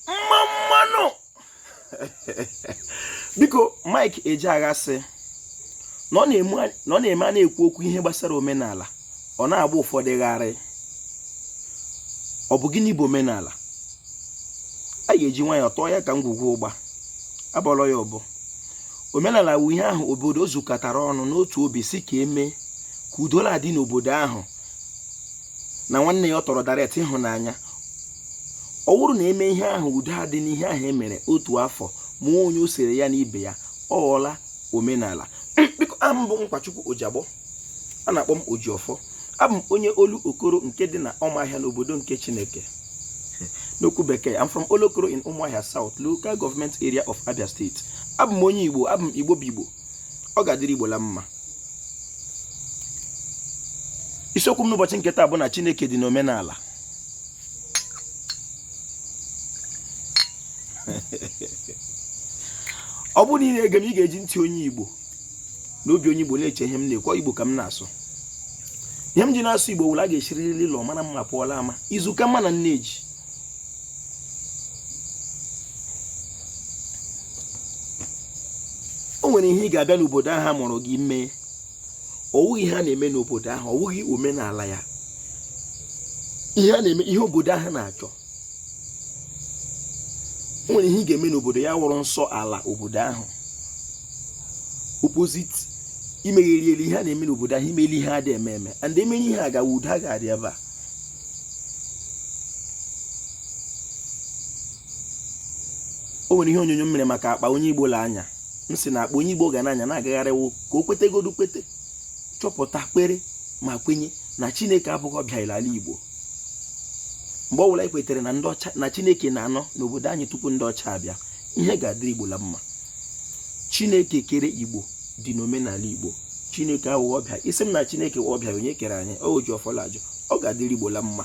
mma mmanụ biko Mike Ejeagha sị na ọ na-eme a na-ekwu okwu ihe gbasara omenala ọ na-agba ụfọdụ gharị ọ bụ gịnị bụ omenala a ga-eji nwayọọ tọọ ya ka ngwugwu ụgba abọrọ ya ọbọ omenala wụ ihe ahụ obodo zukọtara ọnụ n'otu obi sị ka e mee ka udo na-adị n'obodo ahụ na nwanne ya ọ tọrọ direct ịhụnanya ọ wụrụ na e mee ihe ahụ udo adị n'ihe ahụ e mere otu afọ ma onye o sere ya na ibe ya ọ ghọọla omenala biko abụ m Nkwachukwu Ojagbo a na-akpọ m Ojiọfọ abụ m onye Olokoro nke dị na Ọmahịa n'obodo nke Chineke n'okwu bekee I'm from Olokoro in Umuahia South local government area of Abia State abụ m onye Igbo abụ m Igbo bụ Igbo ọ ga-adịrị igbo la mma isiokwu m n'ụbọchị nke taa bụ na chineke dị n'omenala ọ bụrụ na ị na-ege m ị ga-eji ntị onye igbo na obi onye igbo na-eche ihe m na-ekwu igbo ka m na-asụ ihe m ji na-asụ igbo wụ la a ga-esiriri ụlọ mara mma pụọ l'ama izu ka mma na nneji o nwere ihe ị ga-abịa n'obodo ahụ a mụrụ gị mee ọ wụghị ihe a na-eme n'obodo ahụ ọ wụghị omenala ya ihe a na-eme ihe obodo ahụ na-achọ o nwere ihe ị ga-eme n'obodo ya wụrụ nsọ ala obodo ahụ opposite i megheriele ihe a na-eme n'obodo ahụ i meele ihe a dị eme eme and e mere ihe a gawa udo a ga-adị ebe a o nwere ihe onyonyo m mere maka akpa onye igbo la-anya m sị na akpa onye igbo ga na-anya na-agagharị wụ ka o kwetegodu kwete chọpụta kwere ma kwenye na chineke abụghị ọbịa l'ala igbo mgbe ọ bụla anyị kwetere na ndị ọcha na chineke na-anọ n'obodo anyị tupu ndị ọcha abịa ihe ga-adịrị igbo la mma chineke kere igbo dị n'omenala Igbo Chineke awụghị ọbịa ị sị m na Chineke wụ ọbịa onye kere anyị Ojiọfọ la-ajụ ọ ga-adịrị Igbo la mma